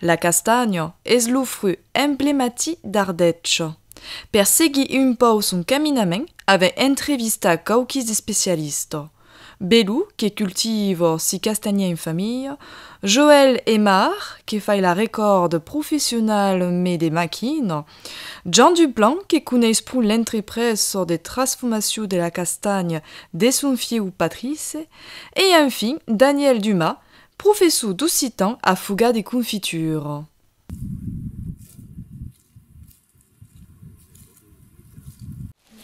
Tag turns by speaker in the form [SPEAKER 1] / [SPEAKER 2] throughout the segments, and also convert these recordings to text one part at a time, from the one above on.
[SPEAKER 1] La castanha es lo fruch emblematic d'Ardètge. Per seguir un pauc son caminament avèm entrevistat quauquis d'especialistas, Belu, que cultiva si castanhier en familha, Joèl Emar, que fai la recòrda professionalament de maquina, Jean Duplan, que coneis pro l'entreprés çò de trasfomaciu de la castanha de son fieu Patrice, e enfin Daniel Dumas, professor d'occitan a Fogat de Confiture.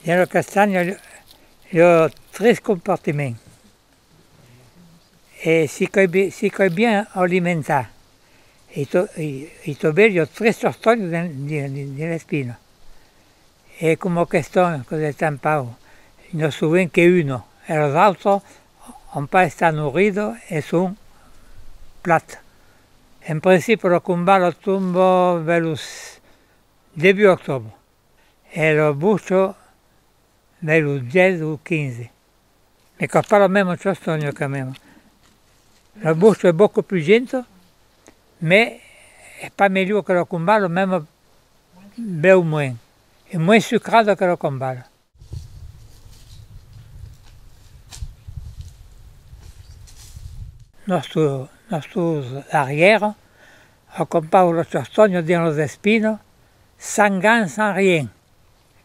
[SPEAKER 2] Dins la castanha, i a tres compartiments, E si qu'ei bi, si qu'ei bien alimentat, i to, i to bello tres tortolhs dins dins les pinos. E coma qu'estón cos'è tan pau, no soven que uno, els autres òm pas estar nourrido e son plat. En principi lo combat lo tombo vers lo debut octobre e lo bucho vers lo 10 o 15. E qu'a pas la mèma castònha qu'a mèma. La vòstra es bòca pus genta, mè es pas melhor que la combada, mèma bèu moen, es moen sucrada que la combada. Nòstre, nòstros arrièra acompanhan la castònha dins las espinas, san gan, san rien.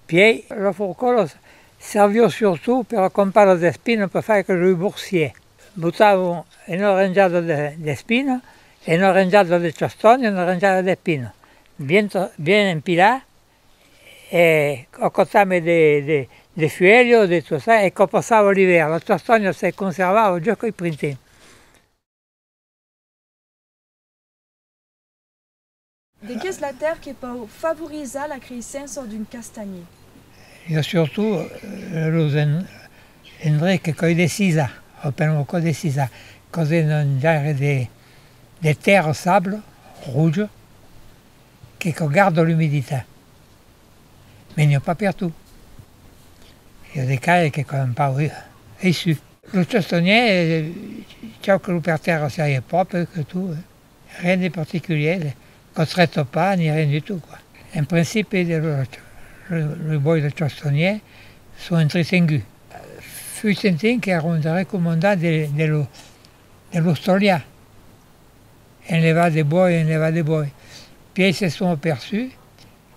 [SPEAKER 2] Pièi, los forcòlos servion surtout per la compara d'espina per far que lo boursier. Botavan ena renjada d'espina, ena renjada de chastònha e ena renjada d'epina, bien bien empilar e o cotame de fuèlha o de tossar e quò passava l'ivèrn, la chastònha se conservava jos qu'ei printemps.
[SPEAKER 1] De qu'es la tèrre que pòu favorizar la creissença d'un castanhier? I a
[SPEAKER 2] surtout los endrets que còi de sisa, o per lo còi de sisa, causen un genre de terre sable rouge que cò garde l'humiditat. Mais n'ai pas per tout. I a de caire que cò un pau aisu. Lo chastonhier chau que lo per terra siaie pròpre que tot. Rien de particulier, cotreto pas ni rien du tout quoi. En principi de lo boi de Chostonnier son entretengut. Fui sentin qu'èra un darrèr comandant de l'Austolian. En levar de boi, en levar de boi. Pièi se son aperçut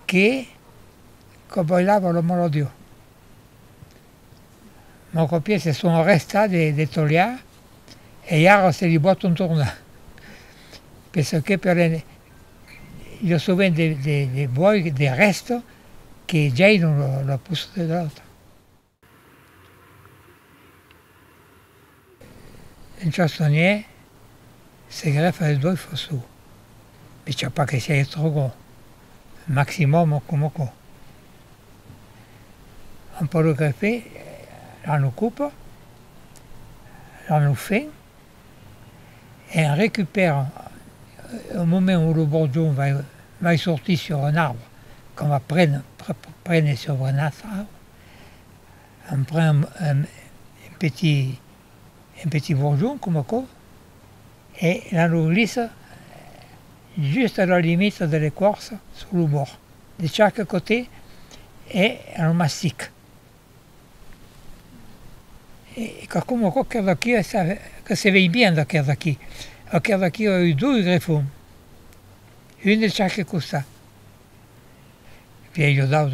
[SPEAKER 2] que qu'aboilava lo malodiu. Mon copier se son arrestat de de tolhar e ara se li bòton tornar. Per çò que per en lo sovent de de de voi de rèsto que gèinon lo lo poço de l'autre. Un chastonnier se grèfa es dois fossu, picha pas que siáis trop gros, maximum o coma co. Un pòt lo greffer a lo còp, a lo fen, e en recupèra au moment où lo borjon vai sortir sur un arbre, qu'a va prene sobre un autre arbre On pren un petit, un petit bourgeon coma aquò e l'an lo glissa just a la limita de l'equarça sus lo bòrd de chaque cotè e an lo mastic. E quicòm aquò que d'aquí que se vei bien d'aquer d'aquí. Aquer d'aquí a eu dois grefons, un de chaque costat. Vei lo daus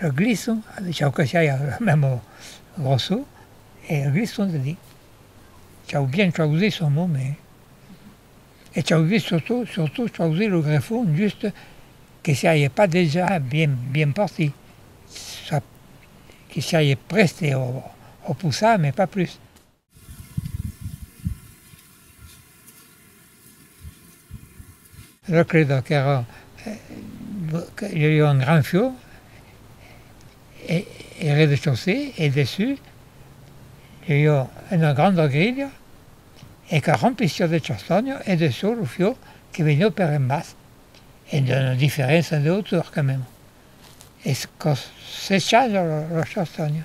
[SPEAKER 2] Lo glisso, chau que siá lo memo grosso, e lo glisso se di, chau bien chausí son nome, e chau vist surtout, surtout chausí lo greffon just que siáie pas dejà bien, bien partit, que siáie prèste au poussar, mais pas plus. Era crida qu'èra que i aviá un gran fiò e e rez-de-chaussée e dessús i aviá una granda grilha e que remplissiá de chastanha e de çò lo fiò que veniá per en bas e d'una diferéncia de hauteur quand même e que sechaja la chastanha.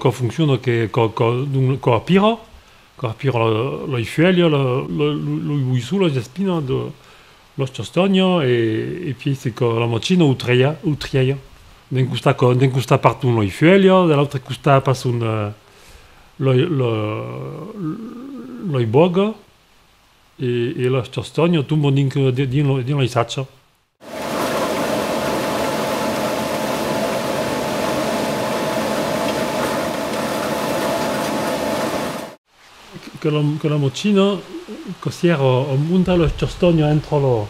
[SPEAKER 3] Qu'a foncciona que qu'a qu'a pira, qu'a pira la ifuèlha, lo iboissu, las espinas, las castanhas e e pièi se qu'a la matina o trièia, o trièia. D'un costat qu'a d'un costat parton la ifuèlha, de l'autre costat passon lei bòga e las castanhas tomban dinc dins lei sacha. Que la machina que sièra a montar las castanhas entra lo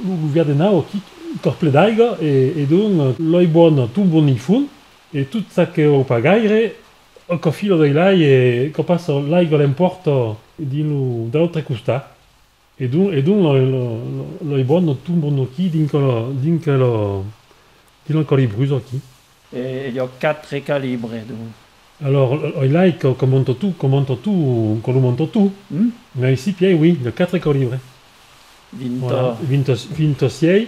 [SPEAKER 3] luvièr de nau, quicòth ple d'aiga e donc lei bòna tomban dins fon E tot ça que ho pas gaire, qu'ho filo dei lai e qu'ho passo l'aigua l'emporto dins lo d'autre costat e donc e donc lo i bon lo tombo noqui dinc lo dinc lo dinc lo colibrus oqui. E jo
[SPEAKER 4] quatre calibre donc. Alors oi
[SPEAKER 3] lai qu'ho monto tout qu'ho monto tout qu'ho lo monto tout. Hum? Mai si piei oui, jo quatre colibre. Vinto. Vinto vinto siei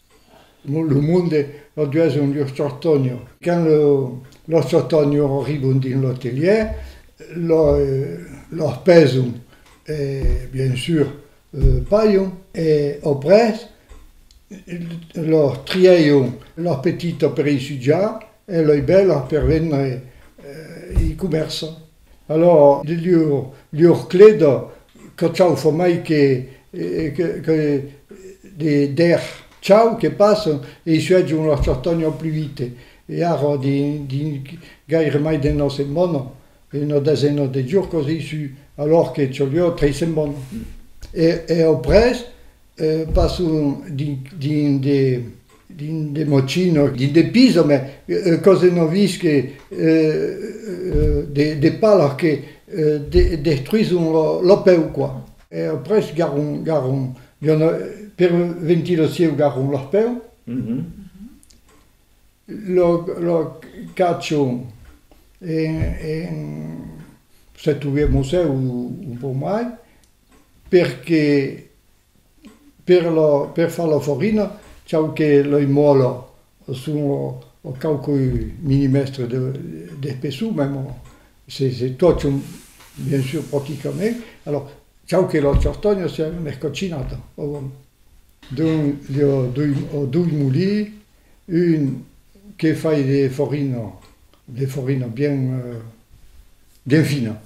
[SPEAKER 5] Lo monde lo dueson los tortònios. Quand los tortònios arribon dins lo telièr, los peson e, bien sûr, balhon. E après, los trièion, los petits per i sujar e lei bèls per vendre i comerçar. Alòr, llur clèda que chau fa mai que de dèr chau que passen e i suètjan las chastalhas pluite. E ara, dins gaire mai d'una setmana, una desena de jors qu'as issu, alòr que chaliá tres setmanas. E après, passan dins de Dins de mochino, dins de piso, mès ua còs de non vist que de palas que destruison lo peu, quoi. E après garron, garron, per ventir lo sieu garron lo peu, lo caccion en, se troviá museu, un pòc mai. Perque per lo per far lo forino chau que loi mòlo son o o quauqui milimèstre de d'espessor mèm o se se tòcho bien sur proticament alò chau que lo chortònho sia un escocinat o bon dun li o dui o dui molí un que fai de forino de forino bien Delfina.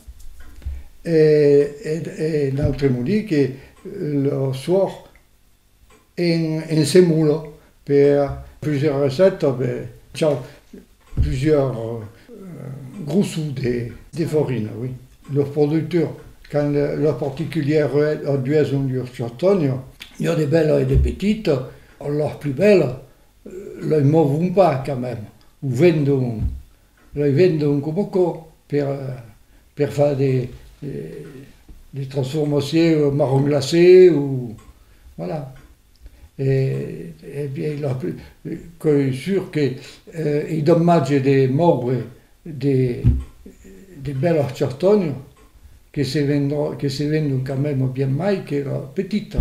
[SPEAKER 5] E un autre m'o di que lo soir en se mola per plusieurs recètas per chau plusieurs grossos de farina, oui. Los productors, quand los particulièrs redueson lur chautanha, n'i a de bèlas e de petitas, las plus bèlas, lei movon pas quand même, o vendon Lai vendre un coboco per per far de de transformacieu au marron glacé o voilà e e bien la plus qu'ei sur que ei dommage de moure de de bèla chartonha que se vendrò que se vendon quand meme bien mai qu'era petita.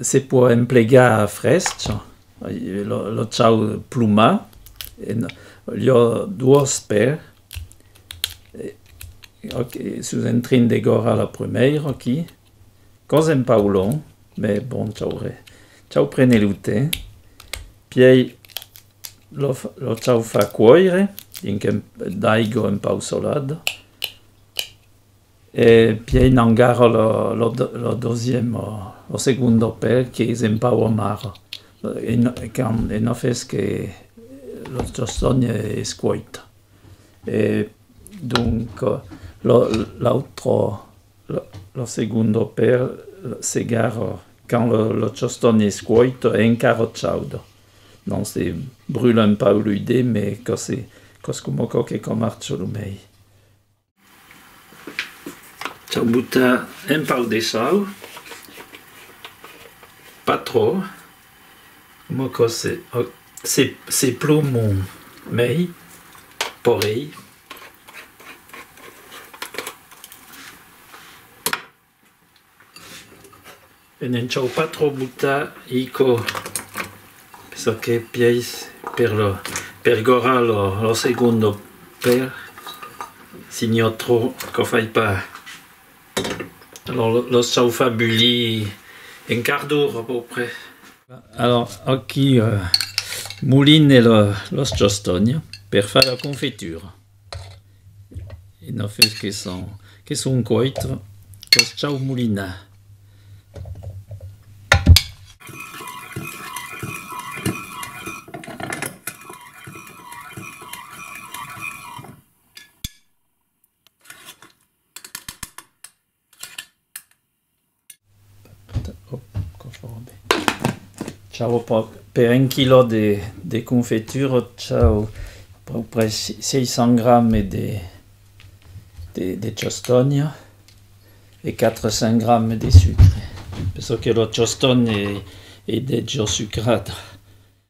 [SPEAKER 4] Se pòt emplegar fresc lo chau plumat e lo duos per ok sus un trin de gòrra la prumèira aquí Gosem Paulon, me bon chaure, chau prene lo te, piei lo lo chau fa cuoire dinc un d'aigo un pau solat, e piei n'engaro lo lo lo dosiemo lo segundo pel qu'es un pau amaro, e no e quand e no fes que lo choston es cuoit. E donc lo l'autro. Lo segundo per segar quand lo choston es cuoito e encara chaudo. Non se brula un pauc lo idè me cossi cos coma cò que com archo lo mei. Chau buttar un pauc de sal, pas trò, coma cos se se se plomon mei porei E n'en chau pas trop butar ico pessa que piais per lo per gorrar lo lo segundo per signò trop co fai pas Alors nos çau far bullir un quart d'ora a peu près. Alors aquí moline los chostònhs per far la confitura. Una fus que son que son cuèits los çau molinar. Ciau pòc per un quilò de de confitura ciau pòc per 600 gramme de de de costònha e 400 gramme de sucre, penso que lo costònh è degio sucrata.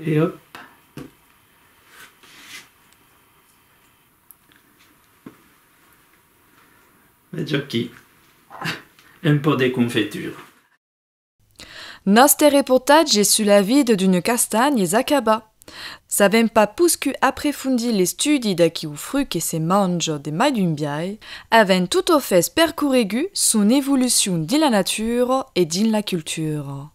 [SPEAKER 4] E òp! Vètz aquí, un pò de confetura. Nòste
[SPEAKER 1] reportatge sus la vida d'un castanh es acabat. S'avèm pas poscut aprefondir l'estudi d'aqueu frut que se manja de mai d'un biais, avèm totofes percorregut son evolucion dins la natura e dins la cultura.